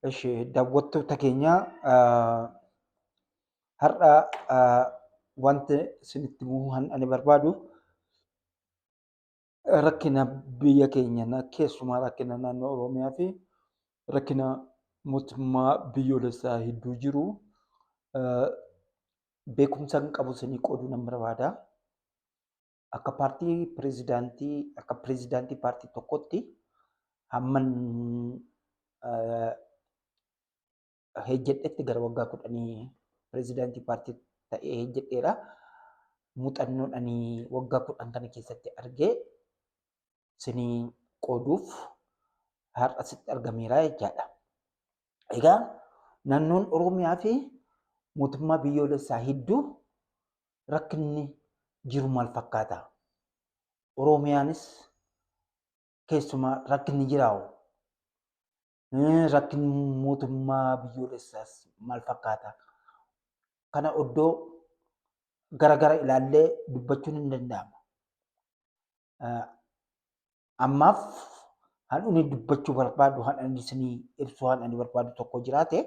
Eshi daawwattoota keenya har'a wanti isinitti himuu ani barbaadu rakkina biyya keenya keessumaa rakkina naannoo Oromiyaa fi rakkina mootummaa biyyoolessaa hedduu jiru beekumsa hin qabu isinii qooduu nan barbaada. akka paartii pirezidaantii akka pirezidaantii paartii tokkotti hamman hejjedhetti gara waggaa kudhanii pirezidaantii paartii ta'ee hejjedheera. Muuxannoodhanii waggaa kudhan kana keessatti argee sinii qooduuf har'a sitti argameera jechaadha. Egaa naannoon Oromiyaa fi mootummaa biyyoolessaa hedduu rakkinni jiru maal fakkaata? Oromiyaanis keessumaa rakkinni jiraa'u rakkinni mootummaa biyyoolessaas maal fakkaata? Kana oddoo gara gara ilaallee dubbachuun hin danda'ama. ammaaf han'uni dubbachuu barbaadu han'an isinii ibsuu han'ani barbaadu tokko jiraate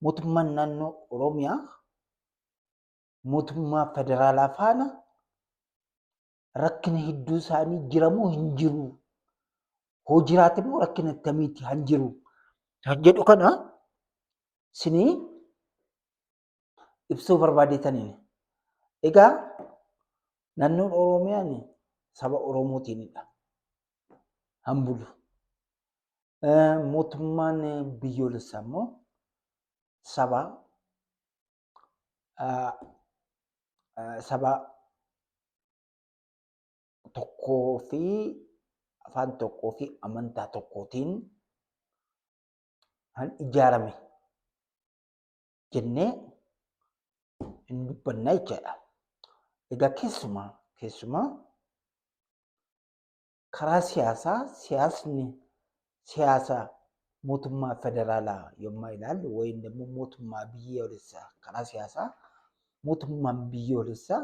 mootummaan naannoo Oromiyaa mootummaa federaalaa faana rakkina hedduu isaanii jiramoo hin jiru hoo jiraate immoo rakkina akkamiiti han jiru kan jedhu kana isinii ibsuu barbaadetaniin. Egaa naannoon Oromiyaan saba Oromootiinidha. Kan bulu. Mootummaan biyyoolessaa immoo saba saba tokkoo fi afaan tokkoo fi amantaa tokkootiin kan ijaarame jennee hin dubbanna jechaadha. Egaa keessumaa keessumaa karaa siyaasaa siyaasni siyaasa mootummaa federaalaa yommuu ilaallu wayim immoo mootummaa biyyoolessaa karaa siyaasaa mootummaan biyyoolessaa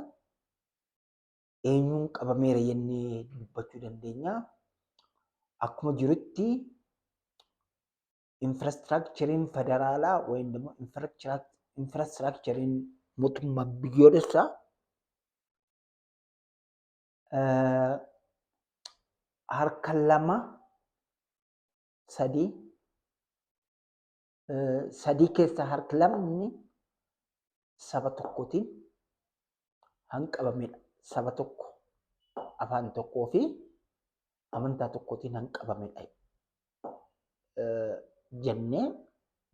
eenyuun qabameera jennee dubbachuu dandeenya. Akkuma jirutti infraastiraakchariin federaalaa wayim immoo infraastiraakchariin mootummaa biyyoolessaa harka lama sadii sadii keessaa harki lamni saba tokkootiin hanqabamedha. Saba tokko afaan tokkoo fi amantaa tokkootiin hanqabamedha jennee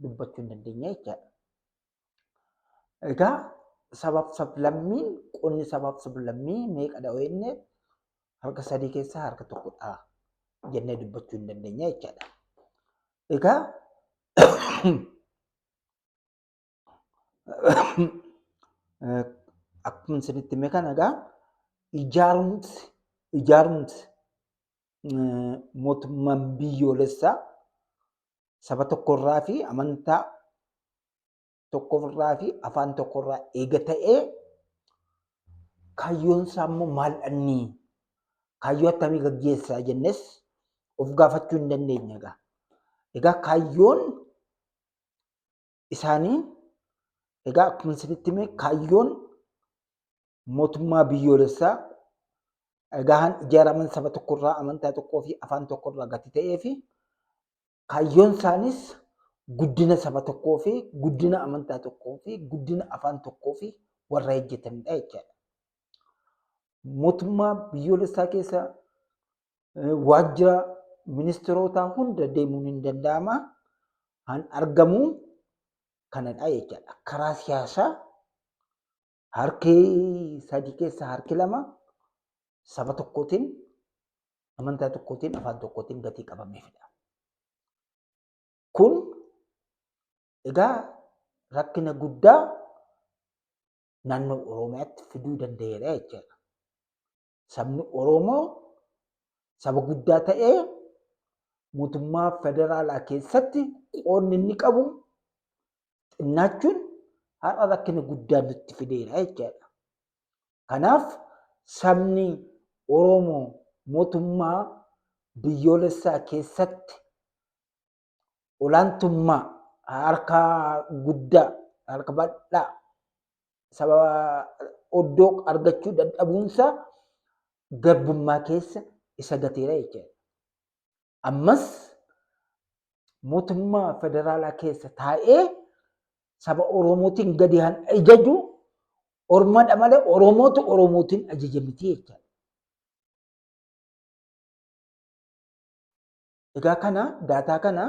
dubbachuu hin dandeenya jechaadha. Egaa sabaaf sablammiin qonni sabaaf sablammii meeqadha jenne harka sadii keessaa harka tokkodha jennee dubbachuu hin dandeenya jechaadha. Egaa akkuma isinitti hime kana egaa ijaarumsi ijaarumsi mootummaan biyyoolessaa saba tokkorraa fi amantaa tokkorraa fi afaan tokkorraa eega ta'ee kaayyoon isaa immoo maal dhannii kaayyoo akkamii gaggeessaa jennes of gaafachuu hin dandeenye egaa. Egaa kaayyoon isaanii egaa akkuma isinitti hime kaayyoon mootummaa biyyoolessaa egaan ijaaraman saba tokkorraa amantaa tokkoo fi afaan tokkorraa gati ta'ee fi kaayyoon isaaniis guddina saba tokkoo fi guddina amantaa tokkoo fi guddina afaan tokkoo fi warra hojjetanidha jechaadha. Mootummaa biyyoolessaa keessa waajjira ministirootaa hunda deemuun hin danda'ama. Kan argamu kanadha jechaadha. Karaa siyaasaa harki sadii keessaa harki lama saba tokkootiin, amantaa tokkootiin, afaan tokkootiin gatii qabameefidha. Kun egaa rakkina guddaa naannoo Oromiyaatti fiduu danda'eera jechaadha. sabni Oromoo saba guddaa ta'ee mootummaa federaalaa keessatti qoonni inni qabu xinnaachuun har'a rakkina guddaa nutti fideera jechaadha. Kanaaf sabni Oromoo mootummaa biyyoolessaa keessatti olaantummaa harka guddaa harka bal'aa sababa oddoo argachuu dadhabuunsaa garbummaa keessa isa gateera jechuudha. Ammas mootummaa federaalaa keessa taa'ee saba Oromootiin gadi han ajaju Ormadha malee Oromootu Oromootiin ajaja miti jechuudha. Egaa kana daataa kana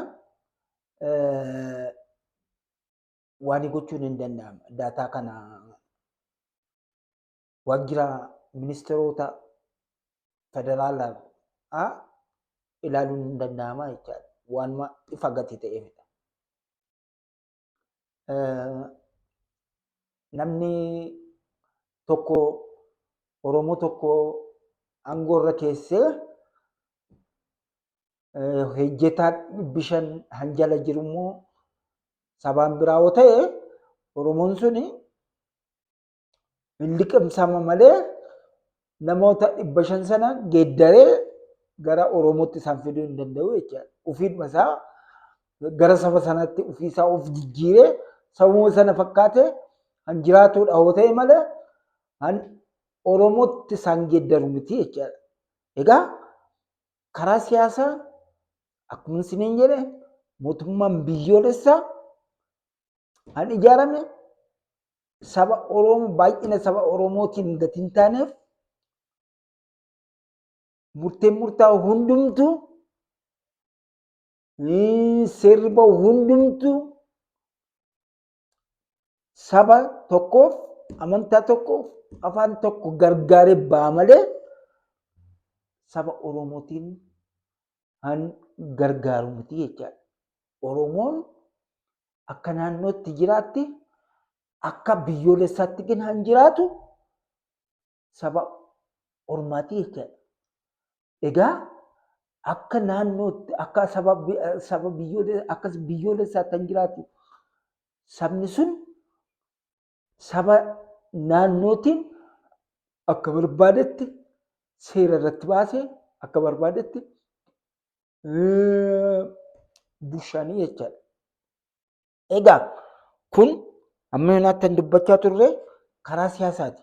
waan gochuun hin danda'amu. Daataa kana waajjira ministeerota federaalaa ilaaluun hin danda'ama jechaadha. Waanuma ifa gati ta'eefidha. namni tokko Oromoo tokko aangoo irra keessee hojjetaa dhibbi shan hanjala jiru immoo sabaan biraa yoo ta'e Oromoon suni hin liqimsama malee namoota dhibba shan sana geeddaree gara Oromootti isaan fiduu hin danda'u jechaadha. Ofiidhuma isaa gara saba sanaatti ofii isaa of jijjiiree sabuma sana fakkaatee kan jiraatudha yoo ta'e malee kan Oromootti isaan geeddaru miti jechaadha. Egaa karaa siyaasaa akkuma isiniin jedhe mootummaan biyyoolessaa kan ijaarame saba Oromoo baay'ina saba Oromootiin gad hin taaneef murteen murtaa'u hundumtu seerri ba'u hundumtu saba tokkoof amantaa tokkoof afaan tokko gargaaree ba'a malee saba Oromootiin kan gargaaru miti jechaadha. Oromoon akka naannootti jiraatti akka biyyoolessaatti kan jiraatu saba ormaati jechaadha. Egaa akka naannootti akka saba saba biyyoolessaatti kan jiraatu sabni sun saba naannootiin akka barbaadetti seera irratti baasee akka barbaadetti bushaanii jechaadha. Egaa kun amma yoonaa kan dubbachaa turre karaa siyaasaati.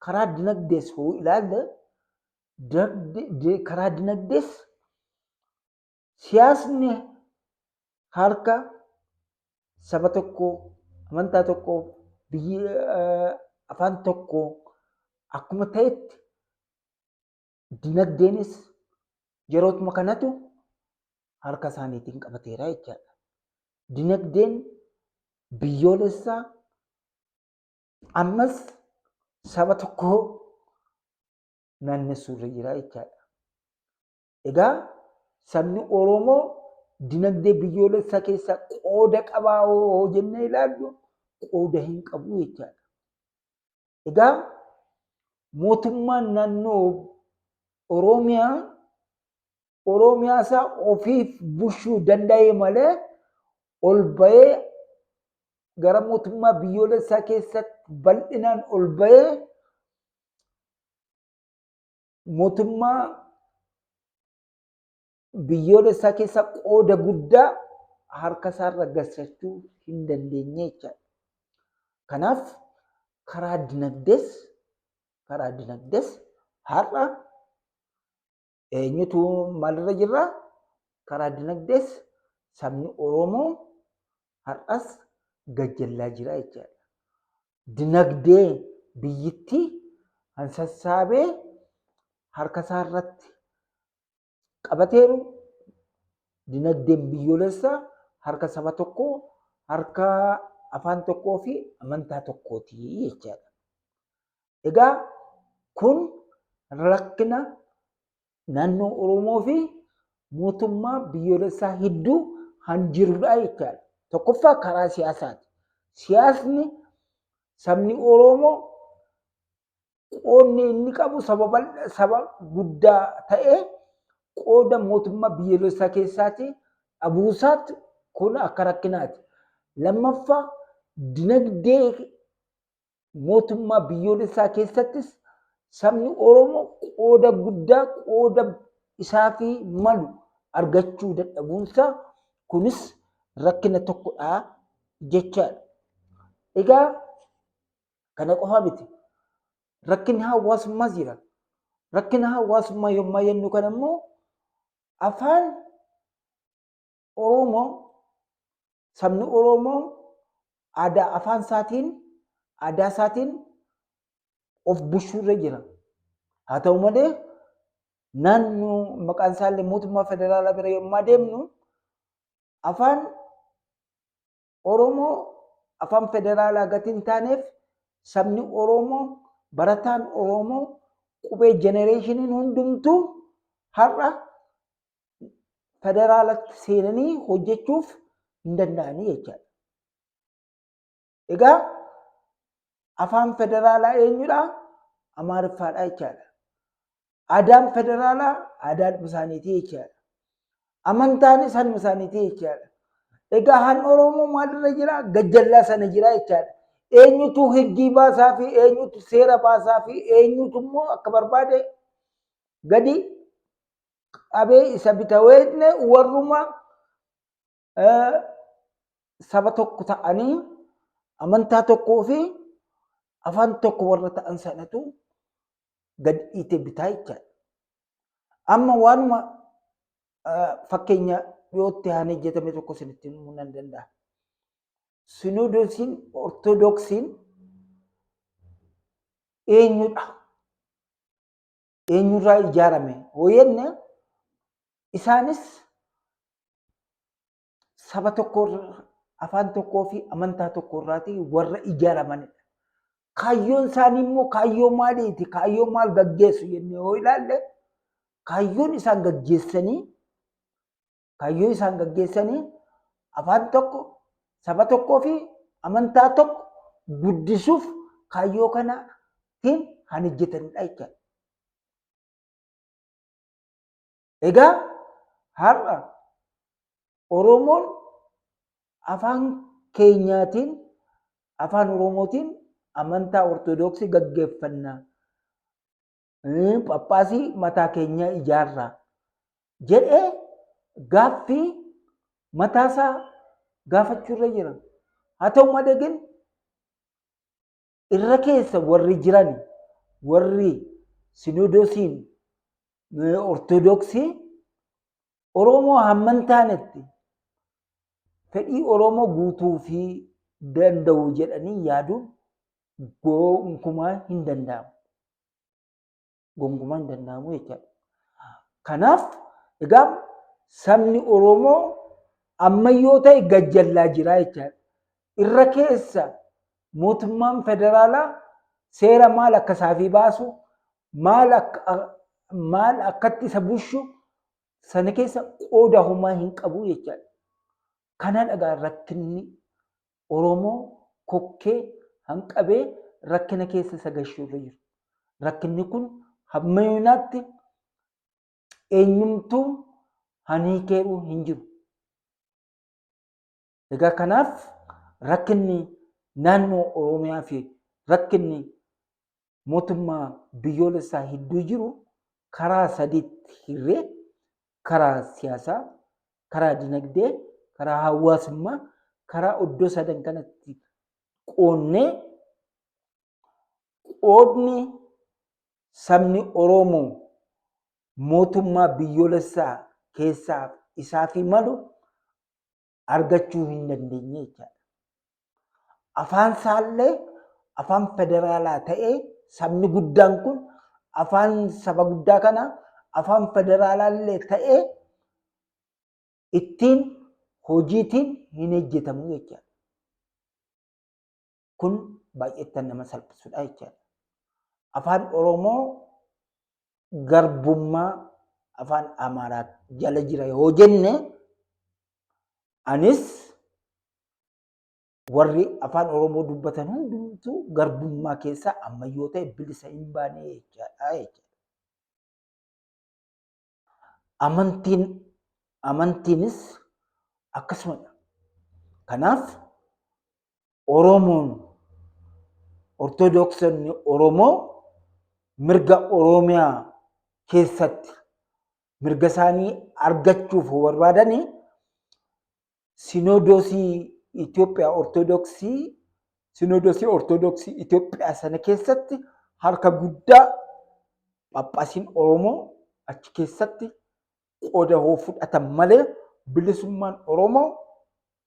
Karaa dinagdees hoo ilaalle karaa dinagdees siyaasni harka saba tokko amantaa tokko biyyi afaan tokko akkuma ta'etti dinagdeenis yerootuma kanatu harka isaaniitiin qabateera jechaadha. Dinagdeen biyyoolessaa ammas saba tokkoo naannessuurra jira jechaadha. Egaa sabni Oromoo dinagdee biyyoolessaa keessaa qooda qabaa hoo jennee ilaallu qooda hin qabu jechaadha. Egaa mootummaan naannoo Oromiyaa Oromiyaa isaa ofiif bulchuu danda'ee malee ol ba'ee gara mootummaa biyyoolessaa keessatti bal'inaan ol ba'ee mootummaa biyyoolessaa keessa qooda guddaa harka isaarra galchachuu hin dandeenye jechaadha. Kanaaf karaa dinagdees karaa dinagdees har'a eenyutu maalirra jirra? Karaa dinagdees sabni Oromoo har'as gajjallaa jira jechaadha. dinagdee biyyittii kan sassaabee harka isaa irratti qabateeru dinagdeen biyyoolessaa harka saba tokkoo harka afaan tokkoo fi amantaa tokkooti jechaadha. Egaa kun rakkina naannoo Oromoo fi mootummaa biyyoolessaa hedduu kan jirudha jechaadha. Tokkoffaa karaa siyaasaati. Siyaasni sabni Oromoo qoodni inni qabu saba guddaa ta'ee qooda mootummaa biyyoolessaa keessaati dhabuusaatti kun akka rakkinaati. Lammaffaa dinagdee mootummaa biyyoolessaa keessattis sabni Oromoo qooda guddaa qooda isaa fi malu argachuu dadhabuunsaa kunis rakkina tokkodha jechaadha. Egaa kana qofa miti. Rakkinni hawaasummaas jira. Rakkina hawaasummaa yommuu jennu kana immoo afaan Oromoo sabni Oromoo aadaa afaan isaatiin aadaa isaatiin of bushuu irra jira. Haa ta'u malee naannoo maqaan isaallee mootummaa federaalaa bira yommuu deemnu afaan Oromoo afaan federaalaa gati hin taaneef sabni Oromoo barataan Oromoo qubee jenereeshiniin hundumtuu har'a federaalatti seenanii hojjechuuf hin danda'anii jechaadha. Egaa afaan federaalaa eenyudha? Amaariffaadha jechaadha. Aadaan federaalaa aadaan isaaniitii jechaadha. Amantaanis hanuma isaaniitii jechaadha. Egaa han Oromoo maalirra jira? Gajjallaa sana jira jechaadha. Eenyutu higgii baasaa fi eenyutu seera baasaa fi eenyutu immoo akka barbaade gadi qabee isa bitaweetne warruma saba tokko ta'anii amantaa tokkoo fi afaan tokko warra ta'an sanatu gad dhiite bitaa jechaadha. Amma waanuma fakkeenya dhiyootti haan hojjetame tokko isinitti himuu nan danda'a. Sinoodosiin Ortodoksiin eenyudha? eenyurraa ijaarame yoo jenne isaanis saba tokko afaan tokkoo fi amantaa tokko irraatii warra ijaaramanidha. Kaayyoon isaanii immoo kaayyoo maaliiti? Kaayyoo maal gaggeessu jennee yoo ilaalle kaayyoon isaan gaggeessanii kaayyoo isaan gaggeessanii afaan tokko saba tokkoo fi amantaa tokko guddisuuf kaayyoo kanaatiin kan hojjetanidha jechuudha. Egaa har'a Oromoon afaan keenyaatiin afaan Oromootiin amantaa Ortoodooksii gaggeeffanna. Phaaphaasii mataa keenyaa ijaarraa jedhee gaaffii mataasaa gaafachuu irra jira. Haa ta'u malee gin irra keessa warri jiran warri sinodoosiin ortodoksii Oromoo hamman taanetti fedhii Oromoo guutuu fi danda'u jedhanii yaaduun gonkumaa hin danda'amu. gonkumaa hin danda'amu jechaadha. Kanaaf egaa sabni Oromoo ammayyoo ta'e gajjallaa jira jechaadha. Irra keessa mootummaan federaalaa seera maal akka isaafii baasu maal akka maal akkatti isa bushu sana keessa qooda homaa hin qabu jechaadha. Kana dhagaa rakkinni Oromoo kokkee hanqabee rakkina keessa isa gashu irra jiru. Rakkinni kun hamma yoonaatti eenyumtuu haniikeeru hin jiru. Egaa kanaaf rakkinni naannoo Oromiyaa fi rakkinni mootummaa biyyoolessaa hedduu jiru karaa sadiitti hirree karaa siyaasaa, karaa dinagdee, karaa hawaasummaa, karaa iddoo sadan kanatti qoonnee qoodni sabni Oromoo mootummaa biyyoolessaa keessaaf isaafii malu argachuu hin dandeenye jechaadha. Afaan isaallee afaan federaalaa ta'ee sabni guddaan kun afaan saba guddaa kana afaan federaalaallee ta'ee ittiin hojiitiin hin hojjetamu jechaadha. Kun baay'eettan nama salphisudha jechaadha. Afaan Oromoo garbummaa afaan Amaaraa jala jira yoo jenne anis warri afaan Oromoo dubbatan hundumtuu garbummaa keessaa ammayyoo ta'e bilisa hin baane jechaadha jechaadha. Amantiin amantiinis akkasumadha. Kanaaf Oromoon Ortodoksonni Oromoo mirga Oromiyaa keessatti mirga isaanii argachuuf barbaadanii sinoodosii Itoophiyaa Ortodoksii sinoodosii Ortodoksii Itoophiyaa sana keessatti harka guddaa phaaphaasiin Oromoo achi keessatti qooda hoo fudhatan malee bilisummaan Oromoo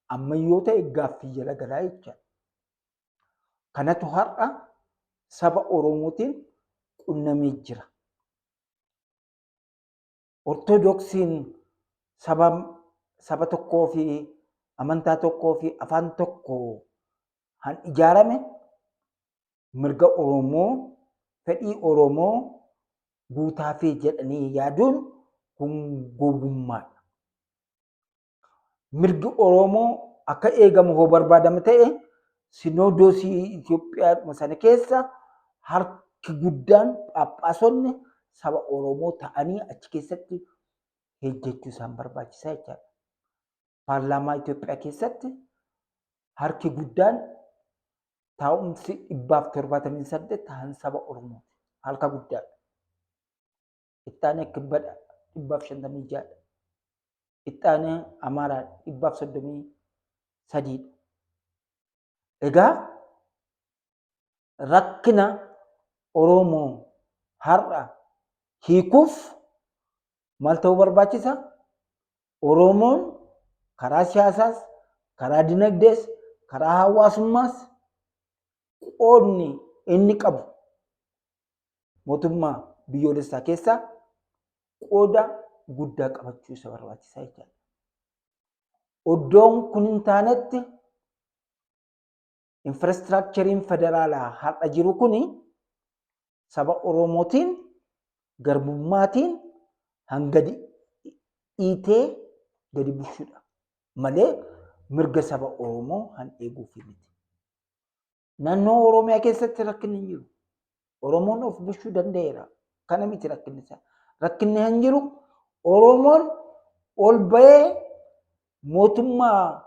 amma yoo ta'e gaaffii jala galaa jecha. Kanatu har'a saba Oromootiin qunnamee jira. Ortodoksiin saba saba tokkoo fi amantaa tokkoo fi afaan tokko kan ijaarame mirga Oromoo, fedhii Oromoo guutaafii jedhanii yaaduun kun gowwummaadha. mirgi Oromoo akka eegamu hoo barbaadame ta'e sinoodoosii Itoophiyaa sana keessa harki guddaan phaaphaasonni saba Oromoo ta'anii achi keessatti hojjechuu isaan barbaachisaa jechaadha. Paarlaamaa Itoophiyaa keessatti harki guddaan taa'umsi dhibbaaf torbaatamii saddeet ta'an saba Oromooti. Harka guddaadha. Ittaanee Kibbadha dhibbaaf shantamii ja'adha. Ittaanee Amaaraa dhibbaaf soddomii sadiidha. Egaa rakkina Oromoo har'a hiikuuf maal ta'uu barbaachisa? Oromoon karaa siyaasaas, karaa dinagdees, karaa hawaasummaas qoodni inni qabu mootummaa biyyoolessaa keessaa qooda guddaa qabachuu isa barbaachisaa jechaadha. Oddoon kun hin taanetti infraastiraakchariin federaalaa har'a jiru kun saba Oromootiin garbummaatiin hanga dhiitee gadi bushuudha malee mirga saba Oromoo han eeguuf miti. Naannoo Oromiyaa keessatti rakkinni hin jiru. Oromoon of bulchuu danda'eera. Kana miti rakkinni isaa. Rakkinni hin jiru. Oromoon ol ba'ee mootummaa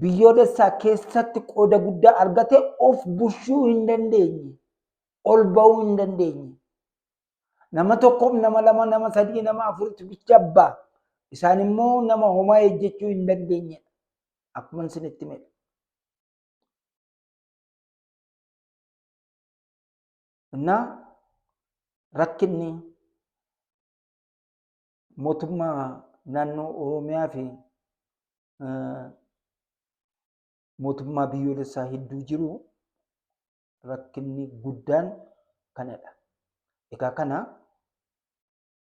biyyoolessaa keessatti qooda guddaa argate of bulchuu hin dandeenye. Ol ba'uu hin dandeenye. Nama tokkoof nama lama nama sadii nama afuritti bicha abbaa. Isaan immoo nama homaa hojjechuu hin dandeenyedha. Akkuma isinitti himedha. እና rakkinni mootummaa naannoo Oromiyaa fi mootummaa biyyoolessaa hedduu jiru rakkinni guddaan kanadha. Egaa kana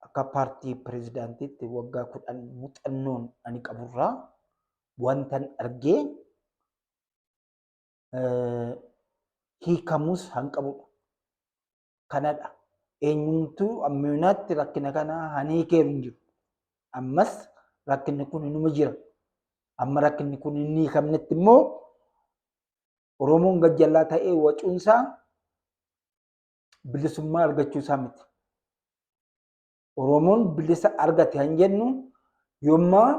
akka paartii pirezidaantiitti waggaa kudhan muuxannoon ani qaburraa wantan argee hiikamuus hanqabudha. Kanadha. Eenyumtuu ammayinaatti rakkina kana hanii keeru hin jiru. Ammas rakkinni kun inuma jira. Amma rakkinni kun hin hiikamnetti immoo Oromoon gajjallaa ta'ee wacuunsaa bilisummaa argachuu isaa miti. Oromoon bilisa argate kan jennu yommaa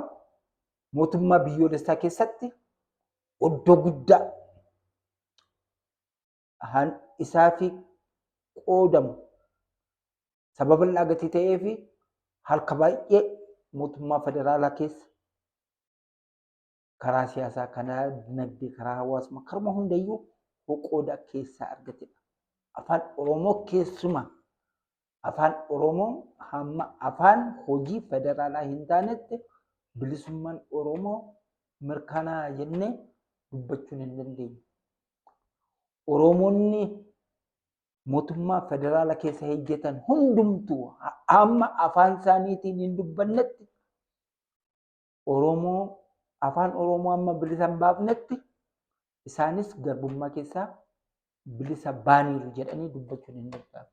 mootummaa biyyoolessaa keessatti oddoo guddaa han isaa fi qoodamu sababa irraa gatii ta'ee fi harka baay'ee mootummaa federaalaa keessa karaa siyaasaa, karaa dinagdee, karaa hawaasummaa, karuma hundayyuu qooda keessaa argatedha. Afaan Oromoo keessuma afaan Oromoo hamma afaan hojii federaalaa hin taanetti bilisummaan Oromoo mirkanaa jennee dubbachuun hin dandeenye. Oromoonni mootummaa federaala keessa hojjetan hundumtuu amma afaan isaaniitiin hin dubbannetti Oromoo afaan Oromoo amma bilisa hin baafnetti isaanis garbummaa keessaa bilisa baaniiru jedhanii dubbachuun hin danda'amu.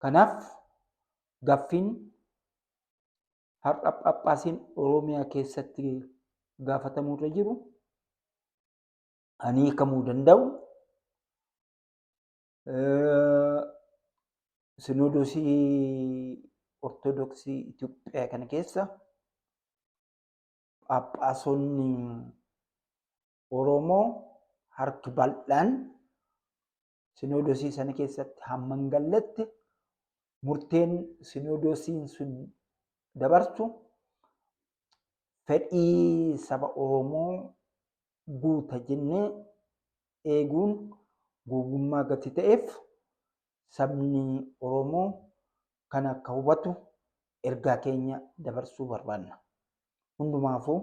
Kanaaf gaaffiin har'a phaaphaasiin Oromiyaa keessatti gaafatamuu irra jiru ani hiikamuu danda'u Sinoodosii Ortodoksii Itoophiyaa kana keessa phaaphaasonni Oromoo harki bal'aan sinoodosii sana keessatti hamma hin galletti murteen sinoodosiin sun dabarsu fedhii saba Oromoo guuta jennee eeguun gowwummaa gati ta'eef sabni Oromoo kana akka hubatu ergaa keenya dabarsuu barbaanna. Hundumaafuu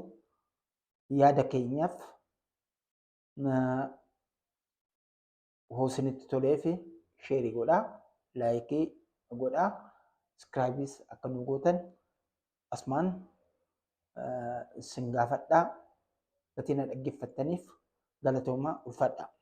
yaada keenyaaf hoo isinitti toleef sheerii godhaa laayikii godhaa iskiraayibiis akka nu gootan asmaan isin gaafadhaa gatii na dhaggeeffattaniif galatoomaa ulfaadhaa.